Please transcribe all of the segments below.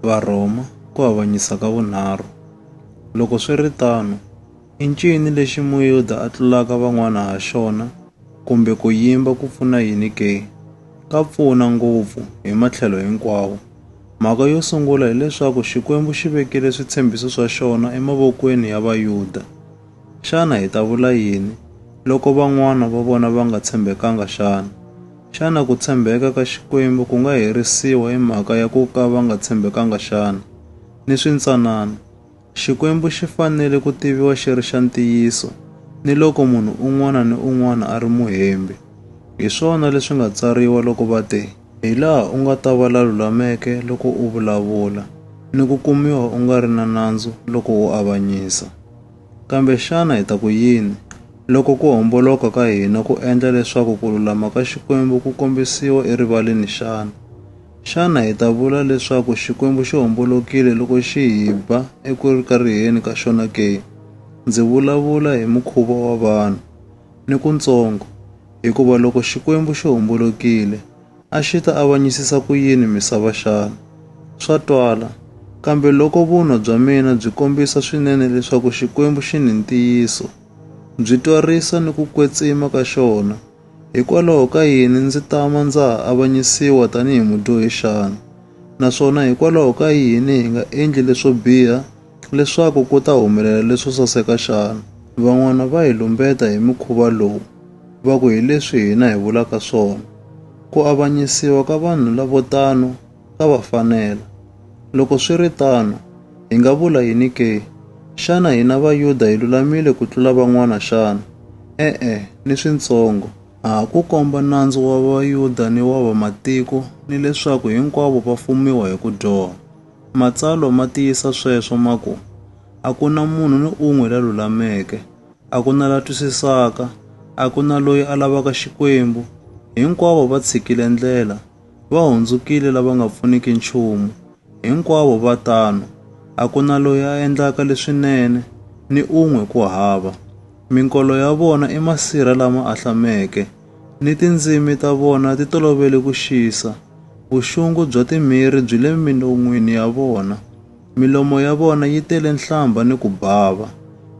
Varhoma ku avanyisa ka vunharhu. Loko swi ri tano, i ncini lexi Muyuda a tlulaka van'wana ha xona kumbe ku yimba ku pfuna yini ke? Ka pfuna ngopfu hi matlhelo hinkwawo. Mhaka yo sungula hileswaku Xikwembu xi vekile switshembiso swa xona emavokweni ya Vayuda. Xana hi ta vula yini loko van'wana va vona va nga tshembekanga xana? Xana ku tshembeka ka Xikwembu ku nga herisiwa hi mhaka ya ku ka va nga tshembekanga xana? Ni swintsanana, Xikwembu xi fanele ku tiviwa xi ri xa ntiyiso, ni loko munhu un'wana ni un'wana a ri muhembi. Hi swona leswi nga tsariwa loko va te, Hi laha u nga ta va la lulameke loko u vulavula, ni ku kumiwa u nga ri na nandzu loko u avanyisa. Kambe xana hi ta ku yini loko ku homboloka ka hina ku endla leswaku ku lulama ka Xikwembu ku kombisiwa erivaleni xana? Xana hi ta vula leswaku Xikwembu xi hombolokile loko xi hi ba eku kariheni ka xona ke? Ndzi vulavula hi mukhuva wa vanhu. Ni ku ntsongo, hikuva loko Xikwembu xi hombolokile, a xi ta avanyisisa ku yini misava xana? Swa twala, kambe loko vunwa bya mina byi kombisa swinene leswaku Xikwembu xi ni ntiyiso, byi twarisa ni ku kwetsima ka xona, hikwalaho ka yini ndzi tama ndza ha avanyisiwa tanihi mudyohi xana? Naswona hikwalaho ka yini hi nga endli leswo biha Leswaku ku ta humelela leswo saseka xana? Van'wana va hi lumbeta hi mukhuva lowu, va ku hi leswi hina hi vulaka swona. Ku avanyisiwa ka vanhu lavo tano ka va fanela. Loko swi ri tano, hi nga vula yini ke? Xana hina Vayuda hi lulamile ku tlula van'wana xana? E-e, ni swintsongo! A ha ku komba nandzu wa Vayuda ni wa Vamatiko ni leswaku hinkwavo va fumiwa hi ku dyoha. Matsalwa ma tiyisa sweswo ma ku, A ku na munhu ni un'we la lulameke, a ku na la twisisaka, a ku na loyi a lavaka Xikwembu. Hinkwavo va tshikile ndlela, va hundzukile lava nga pfuniki nchumu. Hinkwavo va tano, a ku na loyi a endlaka leswinene, ni un'we ku hava. Minkolo ya vona i masirha lama ahlameke. ni tindzimi ta vona ti tolovele ku xisa. Vuxungu bya timhiri byi le minon'wini ya vona. Milomo ya vona yi tele nhlambha ni ku bava.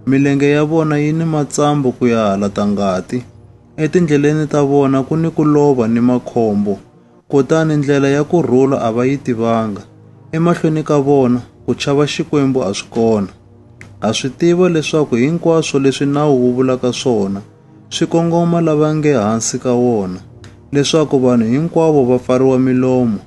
Milenge ya vona yi ni matsambu ku ya hala ta ngati. Etindleleni ta vona ku ni ku lova ni makhombo. Kutani ndlela ya ku rhula a va yi tivanga. Emahlweni ka vona ku chava Xikwembu a swi kona. Ha swi tiva leswaku hinkwaswo leswi nawu wu vulaka swona swi kongoma lava nge hansi ka wona, leswaku vanhu hinkwavo va pfariwa milomo,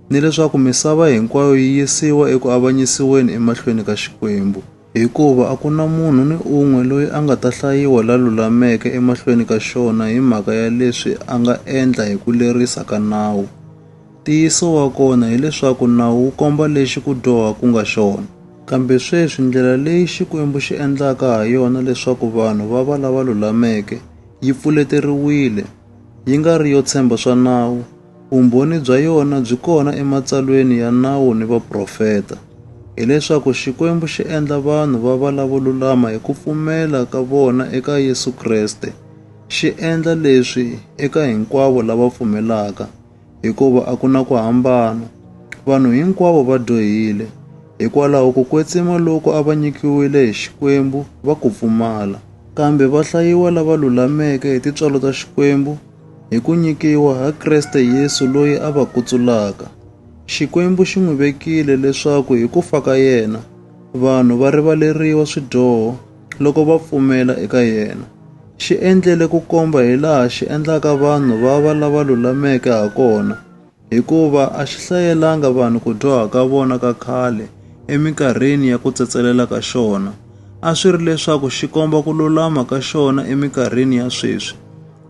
ni leswaku misava hinkwayo yi yisiwa eku avanyisiweni emahlweni ka Xikwembu. Hikuva a ku na munhu ni un'we loyi a nga ta hlayiwa la lulameke emahlweni ka xona hi mhaka ya leswi a nga endla hi ku lerisa ka nawu. Ntiyiso wa kona hi leswaku nawu wu komba lexi ku dyoha ku nga xona. Kambe sweswi ndlela leyi Xikwembu xi endlaka ha yona leswaku vanhu va va lava lulameke yi pfuleteriwile, yi nga ri yo tshemba swa nawu. Vumbhoni bya yona byi kona eMatsalweni ya Nawu ni Vaprofeta, hi leswaku Xikwembu xi endla vanhu va va lavo lulama hi ku pfumela ka vona eka Yesu Kreste, xi endla leswi eka hinkwavo lava pfumelaka. hikuva a ku na ku hambana. Vanhu hinkwavo va dyohile, hikwalaho ku kwetsima loku a va nyikiwile hi Xikwembu va ku pfumala. Kambe va hlayiwa lava lulameke hi tintswalo ta Xikwembu hi ku nyikiwa ha Kreste Yesu loyi a va kutsulaka. Xikwembu xi n'wi vekile leswaku hi ku fa ka yena, vanhu va rivaleriwa swidyoho loko va pfumela eka yena. Xi endlele ku komba hi laha xi endlaka vanhu va va lava lulameke ha kona, hikuva a xi hlayelanga vanhu ku dyoha ka vona ka khale eminkarhini ya ku tsetselela ka xona. A swi ri leswaku xi komba ku lulama ka xona eminkarhini ya sweswi,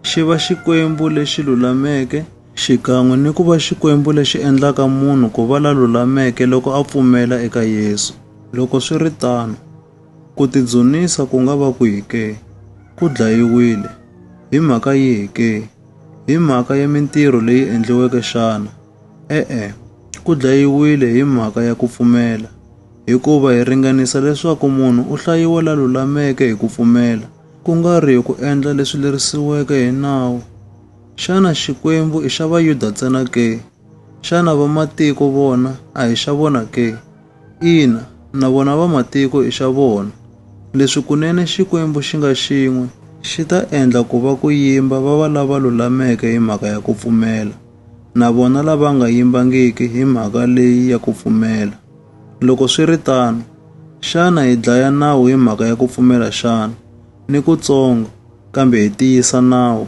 xi va Xikwembu lexi lulameke, xikan'we ni ku va Xikwembu lexi endlaka munhu ku va la lulameke loko a pfumela eka Yesu. Loko swi ri tano, Ku tidzunisa ku nga va kwihi ke? Ku dlayiwile. Hi mhaka yihi ke? Hi mhaka ya mintirho leyi endliweke xana? E-e, ku dlayiwile hi mhaka ya ku pfumela. Hikuva hi ringanisa leswaku munhu u hlayiwa la lulameke hi ku pfumela, ku nga ri hi ku endla leswi lerisiweke hi nawu. Xana Xikwembu i xa Vayuda ntsena ke? Xana vamatiko vona a hi xa vona ke? Ina, na vona vamatiko i xa vona. Leswi kunene Xikwembu xi nga xin'we, xi ta endla ku va ku yimba va va lava lulameke hi mhaka ya ku pfumela, na vona lava nga yimbangiki hi mhaka leyi ya ku pfumela. Loko swi ri tano, xana hi dlaya nawu hi mhaka ya ku pfumela xana? Ni kutsongo! Kambe hi tiyisa nawu.